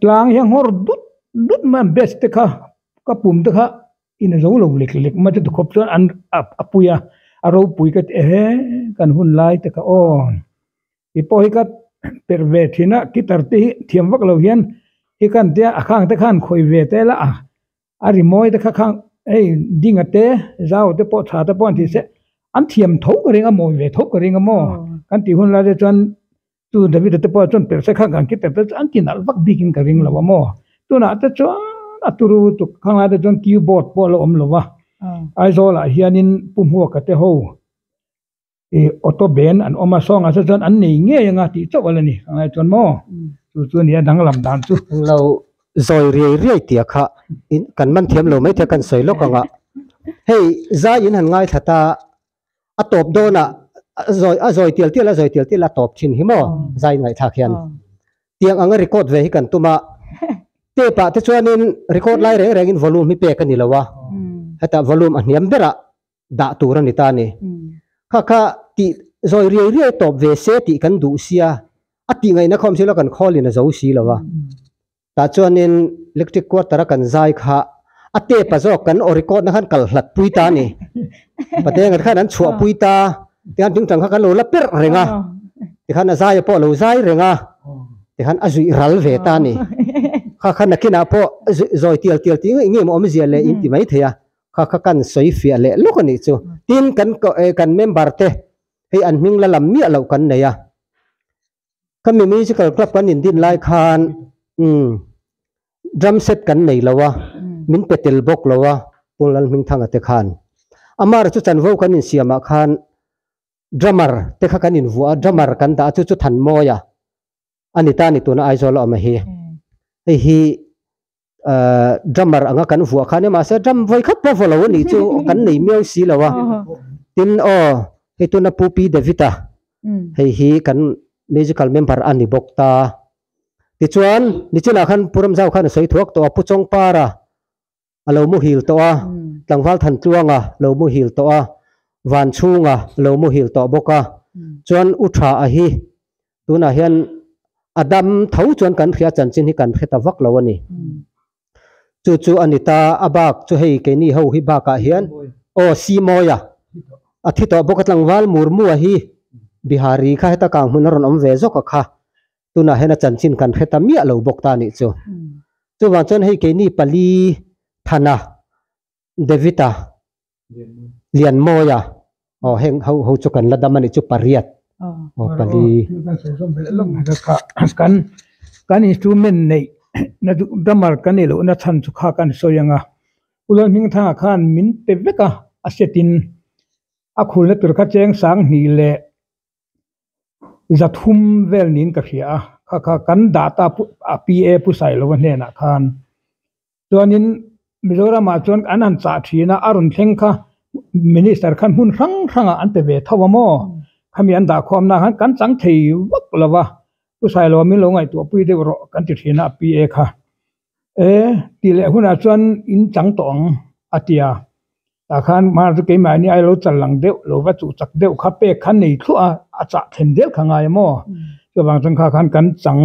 tlang hi a nghawr dut dut mai a batch te kha ka pum te kha in a zo lo lek lek mai te tu khawp chuan an a a pui a a ropui ka ti a he kan hun lai te ka aw i pawh hi ka perh ve thin a guitar te hi thiam vak lo hian i ka han tia a khang te khan khawi ve tel a a a rimawi te kha khang hei ding a te zau te pawh tha te pawh an tihseh an thiam tho ka ring a mawi ve tho ka ring a maw kan tih hun lai te chuan-- chu David te pawh chuan perhse kha kan kite pawh chuan ti nalh vak bikin ka ring lo a maw tunah te chuan a turu tuk khangai te chuan keyboard pawh a la awm lo va Aizawlah hianin Pu Hmuaka te ho ih auto band an awm a sawng ah se chuan an nei ngei anga tih chauh a la ni khangaia chuan maw chu chu a ni a danglam dan chu eng lo zawi riai riai tia kha kan man thiam lo maithei kan sawi lawk ang a hei zai in han ngaithlat a A tawp dawn a, a zawi tial tial a zawi tial tial a tawp thin hi maw zai inngaihthlak hian tiang anga record ve hi kan tum a tape ah te chuanin record lai reng rengin volume hi pek a ni lo a heta volume a hniam berah dah tur a ni ta ni kha kha ti zawi riai riai tawp ve se tih kan duh sia a tih ngaihna khawm silo kan khawl in a zo si lo a Tah chuanin Lectric quarter a kan zai kha a tape a zawk kan aw record na khan kal hlat pui ta a ni. Patenga te khan an chhuah pui ta tiang ting tang kha kan lo la perh reng a. Tikhan a zaia pawh a lo zai reng a, tikhan a zuih ral ve ta a ni. Kha kha nakinah pawh zuih zawi tial tial tih ngei ngei awm zia leh in ti mai thei a, kha kha kan sawi fiah leh lawk a nih chu. Tin kan kan member te hei an hming la lam miah loh kan nei a. kami musical club kan in din lai khan umm drum set kan nei lo a min pe tel bawk lo a Paul Lalhming Thanga te khan Amar chu chanvo kan in siam ah khan drummer te kha kan in vuah a drummer kan dah a chu chu Thanmawia a ni ta ni tuna Aizawl a awm a hi hei hi ahh drummer anga kan vuah khan e mahse drum vawi khat pawh vawlo anih chu kan nei miau si lo a tin aw hei tuna pupi david a hei hi kan musical member a ni bawk ta tichuan ni chinah khan puram zau khan a sawi thuak tawh a pu chawngpar a a lo muhil tawh a tlangval than tluang a lo muhil tawh a van chhung a lo muhil tawh bawk a chuan u tha a hi tunah hian a dam tho chuan kan hria chanchin hi kan hre ta vak lo a ni. Chu chu a ni ta, a bak chu hei keini ho hi bakah hian aw Simawiya a thi tawh bawk a, tlangval murmua hi Bihari kha heta kang hmun a rawn awm ve zawk a kha, tunah hian a chanchin kan hre ta miah lo bawk ta nih chu. Chuvang chuan hei keini pali thana Devita, Lianmawia, aw heng ho ho chu kan la dam a nih chu pariat aw pali. Kan instrument neih na duh drummer kan nih lohna chhan chu kha kan sawi ang a ulon hming thang ah khan min pe vek a a set in a khul na tur kha cheng sang hni leh za thum vel niin ka hria a kha kha kan dah ta pu a PA pu sailo hnenah khan chuanin Mizoram ah chuan an han chah thin a a rawn thleng kha minister khan hmun hrang hrang ah an pe ve tho a maw khami an dahkhuam na khan kan chang thei vak lo va pu Sailawi min lo ngaihtuah pui deuh rawh kan ti thin a a pi e kha e ti leh hunah chuan in chang tawh ang a ti a tah khan hma chu keimah hian ailo chal lang deuh lo va chuh chak deuh kha pek kha nei thluah a a chah thlen zel kha ngai a maw chuvang changkha khan kan chang.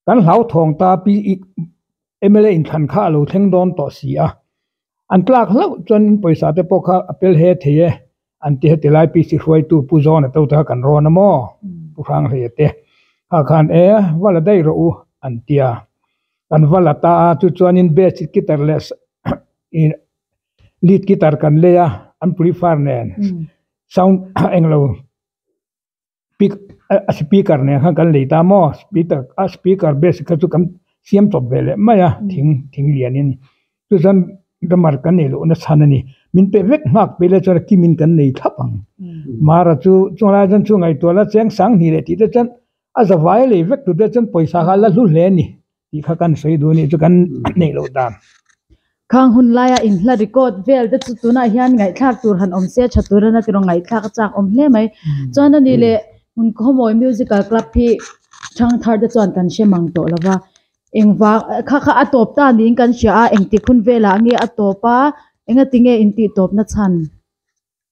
kan hlauthawng ta pi ih mla inthan kha a lo thleng dawn tawh si a an tlak hlauh chuan in pawisa te pawh kha a pel he thei e an ti heti lai pi si hruaitu pu John-a te kha kan rawn a maw pu Hranghleia te kha khan e va la daih rawh u an ti a kan va la ta a chu chuan in bedsheet ki tar leh ih lit ki tar kan lei a an prefer nen sound englo. Speak a speaker nen khan kan lei ta maw speaker a speaker base kha chu kan siam tawp ve leh mai a thing thing lian in chu chuan drummer kan nih loh nachhan a ni min pe vek nghak pui lai chuan kim in kan nei thlap ang hmara chu chung lai chuan chu ngaihtuah la cheng sang hnih leh tih te chuan a za vai lei vek tute chuan pawisa kha a la hlu hle a ni. tih kha kan sawi duh a nih chu kan neih loh ta. Khang hun laia in hla record vel te chu tunah hian ngaihthlak tur han awm se tha tur a na ti rawh ngaihthlak a chak awm hle mai chuan a nih leh hun khawmawi musical club hi thangthar te chuan kan hre mang tawh lova engvang kha kha a tawp ta niin kan hria a engtik hun velah nge a tawp a engatinge intih tawpna chhan.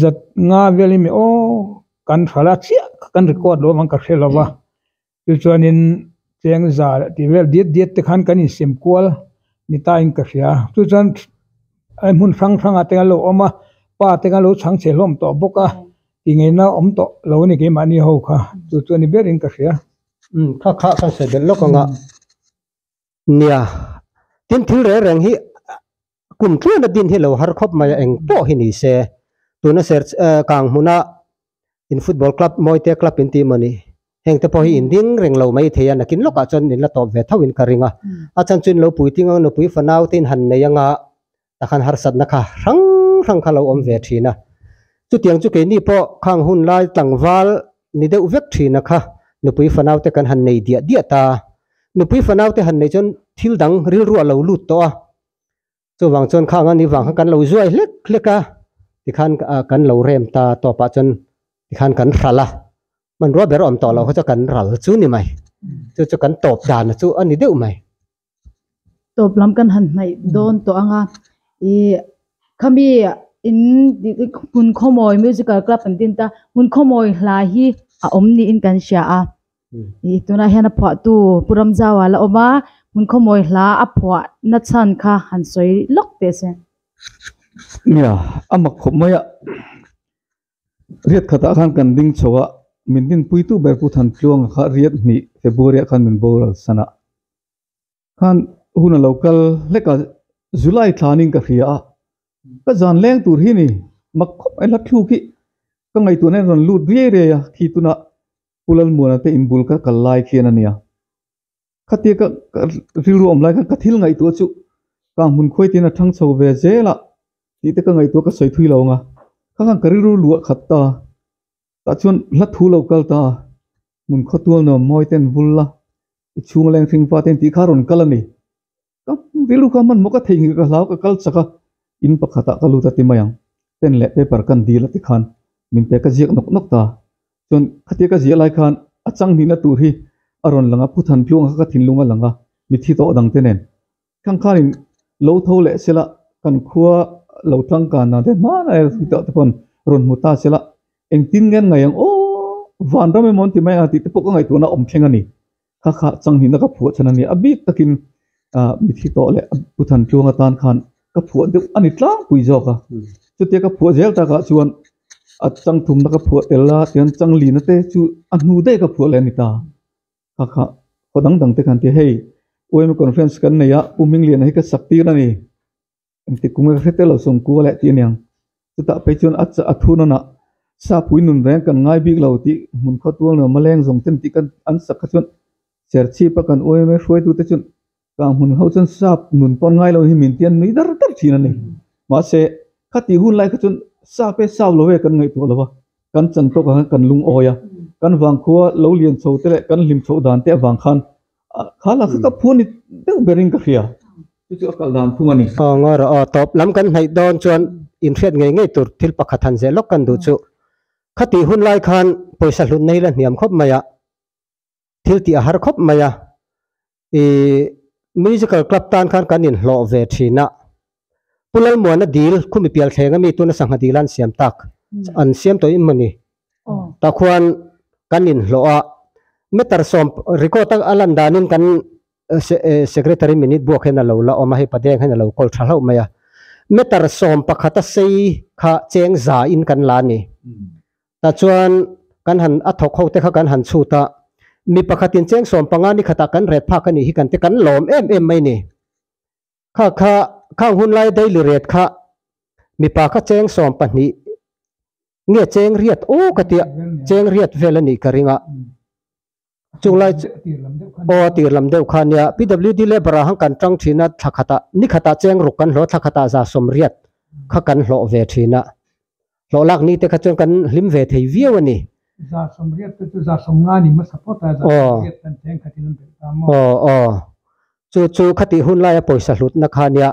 zat nga vel hi meh aw kan hralh a chiah kha kan record loh avang ka hre lova chu chuanin chengzar tih vel diat diat te khan kan insem kual ni tain ka hria chu chuan ai hmun hrang hrang ah te kan lo awm a pa te kan lo chhang che hlawm tawh bawk a ti nge na awm tawh lo a ni keimahni ho kha chu chu ni ber in ka hria. Nia, tin thil reng reng hi kum tluana din hi lo har khawp mai a eng pawh hi ni se. Tuna ser kang hmuna in football club mawite club in tih mawni heng te pawh hi in ding reng lo mai thei a nakin lawkah chuan min la tawp ve thauhin ka ring a. A chhan chu in lo puiting ang nupui fanau te in han nei anga ta khan harsatna kha hrang hrang kha lo awm ve thin a, chutiang chu keini pawh khang hun lai tlangval ni deuh vek thina kha nupui fanaute kan han nei diah diah ta, nupui fanaute han nei chuan thil dang rilruah lo lut tawh a, chuvang chuan khang a ni vang khan kan lo zuai hlek hlek a tikhan kan lo rem ta tawpah chuan tikhan kan hral a, hmanrua ber awm tawh loh kha chu kan ral chu ni mai, chu chu kan tawp dan chu a ni deuh mai. tawp lam kan han hnaih dawn tawh ang a ihh khami in hun khawmawi musical club an tih a ni ta hun khawmawi hla hi a awm niin kan hria a ihh tunah hian a phuahtu pu ramzau ala awm a hun khawmawi hla a phuah na chhan kha han sawi lawk teh se. Riat khatah khan kan ding chho a, min din pui tu ber pu Than Tluanga kha riat hnih February ah khan min boral san a, khan hun a lo kal hlek a, July thla'n in ka hria a, ka zan leng tur hi ni, mak khawp mai hla thluk hi ka ngaihtuahna in rawn lut riai riai a, khi tunah Pu Lalmuana te in bul ka kal lai khian a nia. khati ka ka rilru awm lai khan ka thil ngaihtuah chu ka ang hmun khuai tiin a thang chho ve zel a tih te ka ngaihtuah ka sawi thui lo ang a kha khan ka rilru luah khat ta tah chuan hla thu lo kal ta hmun khaw tualnawm mawi ten vul la i chhung leng hring fate an tih kha a rawn kal a ni Ka ti luka hmanhmawh ka theihngilh ka hlau ka kal chak a, in pakhatah ka lut a ti mai ang. Pen leh paper kan dil a ti khan min pe ka ziak nawk nawk ta. Chuan khatia ka zia lai khan a changhnihna tur hi a rawn lang a, phuthan tlung kha ka thinlung a lang a, mithi tawh dang te nen. Thangkhanin lo tho leh sela kan khua lo tangkana te hmana erawh thut deuh te pawh rawn hmu ta sela engtin ngen ngaih ang aw, vanram emaw an ti mai ang a tih te pawh ka ngaihtuahna awm thleng a ni. Kha kha changnihna ka phuah chhan a ni. A bik takin mithi tawh leh pu than tluang atan khan ka phuah deuh a ni tlangpui zawk a. Chutia ka phuah zel takah chuan a chang thumna ka phuah tel a, tichuan chang lina te chu a hnu daih ka phuah leh a ni ta. Kha kha haw dang dang te khan an ti a, Hei, UMA Conference kan nei a, Pu Hming Liana hi ka sak tir a ni. engtik kung nge ka hre tel lo sawm kua leh tih a niang. Chutah phei chuan a a thu nawn ah Sapui nun reng kan ngai bik lo tih hmun khaw tual ni a, Maleng zawng ten tih kan an sak kha chuan Serchhip a kan uaim e, hruaitu te chuan kang hmun ho chuan Sap nun pawn ngai lo hi min ti an nui dar dar thin an ni. Mahse khati hun lai kha chuan Sap e Sap lo e kan ngaihtuah lo va, kan chantawk ah khan kan lungawi a, kan vang khua lo lian chho te leh kan hlim chhoh dan te avang khan, A kha la kha ka phu ni deuh ber in ka hria. Chu chu a kal dan phung a ni. Aw ngaw rawh aw tawp lam kan hnaih dawn chuan in hriat ngei ngei tur thil pakhat han zeh lawk kan duh chu. Khati hun lai khan pawisa hlun na hi la hniam khawp mai a, thil tih a har khawp mai a. I musical club tan khan kan in hlawh ve thin a, Pu Lalmuana dil khumi pial thleng ami tuna sangha dil an siam tak an siam tawh in mawni tah khuan kan in hlawh a meter sawm record a lan dan in kan secretary minute buak hian alo la awm a hei padeng hian alo call tha hlauh mai a meter sawm pakhat a sei kha cheng za in kan la ani tah chuan kan han a thawk ho te kha kan han chhut a mi pakhatin cheng sawm panga nikhatah kan ret phak anih hi kan ti kan lawm em em mai ani. Kha kha kha an hun lai daily rate kha mipa kha cheng sawm pahnih nge cheng riat aw ka tia cheng riat vel anih ka ring a chung lai aw tir lam deuh kha nia pwd labour ah han kan tang thin a tha khata ni khata cheng ruk kan hlawh tha khata za sawm riat kha kan hlawh ve thin a. Hlawhlak ni te kha chuan kan hlim ve thei viau a ni. Zah sawmriat te chu zah sawm nga ni hmasa phawt a, zah sawmriat kan tih ang khatin an belh ta maw? Aw aw. Chu chu khati hun laia pawisa hlutna kha nia.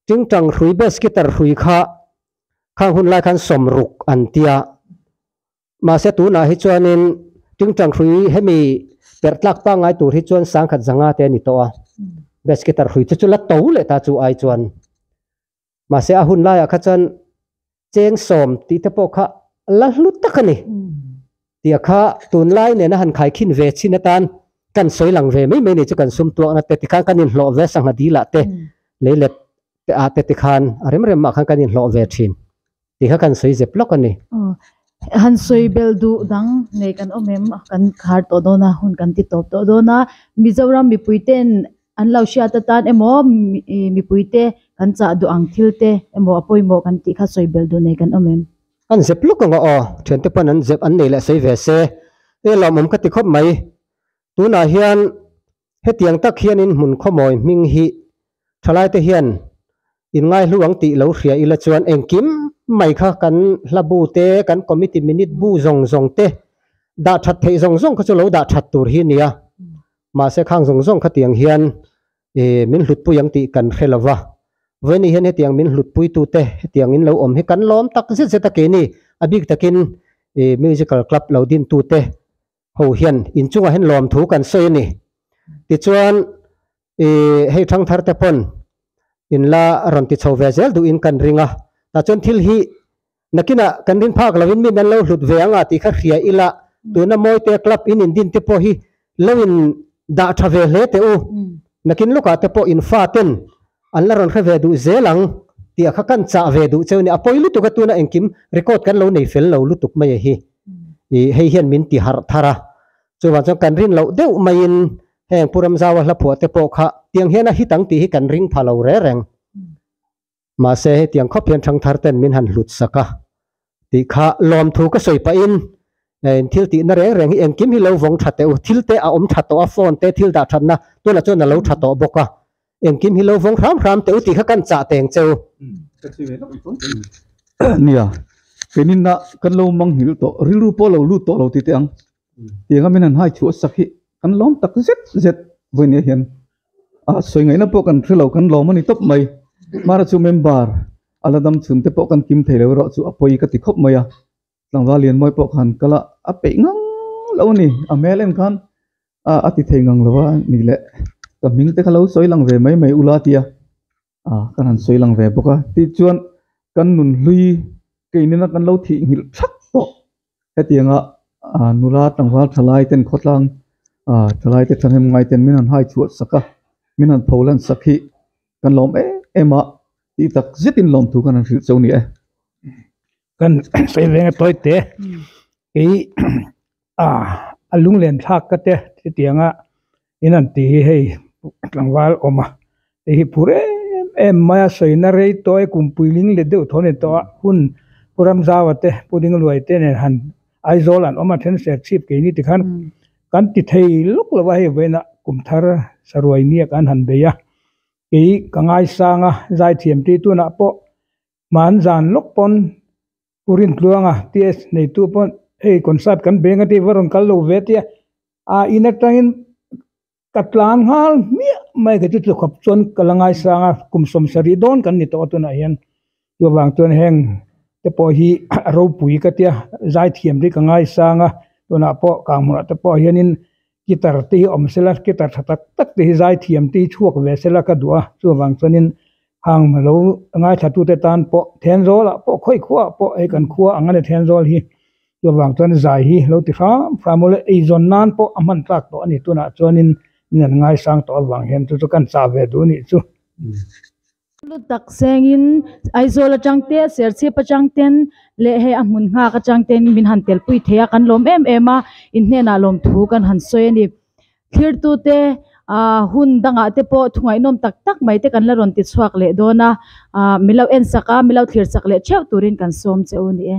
Tingtang hrui beskiter hrui kha khang hun lai khan sawm ruk an tia. Mahse tunah hi chuanin tingtang hrui hemi perh tlak pangngai tur hi chuan sangkhat zanga te a ni tawh a. Beskiter hrui te chu la to leh ta chu ai chuan. mahse a hun laiah kha chuan cheng sawm tih te pawh kha a la hlut tak a ni tia kha tunlai nena han khai khin ve chin atan kan sawi lang ve mai mai ni chu kan sum tuakna te tikhan kan inhlawh ve sangha dil ah te leilet te ah te tikhan a rem rem mah khan kan inhlawh ve thin. Tikha kan sawi zep lawk a ni. Han sawi bel duh dang nei kan awm em? Kan khar tawh dawn a, hun kan ti tawp tawh dawn a. Mizoram mipui ten an lo hriat atan emaw mipui te kan chah duh ang thil te emaw a pawimawh kan tih kha sawi bel duh nei kan awm em? An zep lawk ang a aw, thiante pawn an zep an nei leh sawi ve se. Eng lawm awm ka ti khawp mai. Tunah hian Hetiang tak hianin hmun khawmawi hming hi thalaite hian inngaihlu ang tih lo hria ila chuan engkim mai kha kan hla bu te, kan committee minute bu zawng zawng te dah that theih zawng zawng kha chu lo dah that tur hi a ni a, mahse khang zawng zawng kha tiang hian min hlutpui ang tih kan hre lova, vawin nih hian hetiang min hlutpui tu te hetiang in lo awm hi kan lawm tak zet zet a, keini a bik takin musical club lo din tu te ho hian inchungah hian lawm thu kan sawi a ni. Tichuan i hei thangthar te pawn in la rawn ti chho ve zel duhin kan ring a, tah chuan thil hi nakinah kan ring phak lovin min an lo hlut ve anga tih kha hria ila, tuna mawite club in indin te pawh hi lo in dah tha ve hle teh u, nakin lukah te pawh infaten An la rawn hre ve duh zel ang tih a kha kan chah ve duh cheu a ni. A pawi lutuk a tuna engkim record kan lo nei fel lo lutuk mai a hi. Ih hei hian min ti harh thar a. Chuvang chuan kan rin loh deuh maiin heng Pu Ramzaua hla phuah te pawh kha tiang hian a hit ang tih hi kan ring pha lo reng reng. Mahse hetiang khawp hian thangthar ten min han hlut sak a. Tih kha lawmthu ka sawi pahin, Eng thil tihna reng reng hi engkim hi lo vawng tha teh u, thil te a awm tha tawh a, phone te thil dah thatna tunah chuan a lo tha tawh bawk a, engkim hi lo vawng hram hram teh u tih kha kan chah teng che u. Nia, keninah kan lo manghngil tawh, rilru pawh a lo lut tawh lo tih teh ang. Tianga min han haithu a sak hi kan lawm tak zet zet vawi ni a hian a sawi ngaihna pawh kan hre lo kan lawm a ni tawp mai hmara chu member a la dam chhun te pawh kan kim thei lo erawh chu a pawi ka ti khawp mai a tlangval lianmuai pawh khan kal a a peih ngang lo a ni a hmel en khan a a ti thei ngang lo a nih leh ka hming te kha lo sawi lang ve mai mai ula tia. ah ka rawn sawi lang ve bawk a tih chuan kan nun hlui kei nena kan lo thih nghilh thap tawh hetiang a ah nula tlangval thalai ten khawtlang ah thalai te thahnem ngai ten min han hai chhuah sak a min han pho lan sak hi kan lawm em em a tih tak zet in lawmthu ka rawn hrilh chauh a ni e. a lunglen thlak ka te chutiang a in an ti hi hei tlangval awm a hei hi phur em em mai a sawi na rei tawh a i kum puiling let deuh thaw a ni tawh a hun pu ram zau a te pu ding luai te nen han aizawl an awm a then ser chhip ke ni ti khan kan ti thei lawk lo va hei vawin a kum thar saruai ni ah kan han bei a kei ka ngaisang a zaithiam ti tunah pawh hman zan lawk pawn u Rinhluanga TH neitu pawh hei concert kan beng a tih va rawn kal lo ve tia a in atangin ka tlan nghal miah mai ka ti chu khawp chuan ka la ngaisang a kum sawmsarih dawn kan ni tawh a tunah hian chu avang chuan heng te pawh hi ropui ka tia zaithiam hi ka ngaisang a tunah pawh kang hmuh ah te pawh hianin. Guitar te hi a awm se la guitar tha tak tak te hi zai thiam te hi chhuak ve se la ka duh a chuvang chuanin hang lo ngaithlatute tan pawh thenzawl ah pawh khawi khuah ah pawh hei kan khua ang a ni thenzawl hi chuvang chuan zai hi lo ti hram hram maw le eizawn nan pawh a hman tlak tawh a ni tunah chuanin min an ngaisang tawh avang hian chu chu kan chah ve duh anih chu. Lu tak sengin Aizawl atangte Serchhip atangten leh hei a hmun nghak atangten min han telpui thei a kan lawm em em a in hnenah lawmthu kan han sawi a ni thirtute aa hun dangah te pawh thungainawm tak tak mai te kan la rawn ti chhuak leh dawn a aa milo en sak a milo thlir sak leh theuh turin kan sawm che u ni e.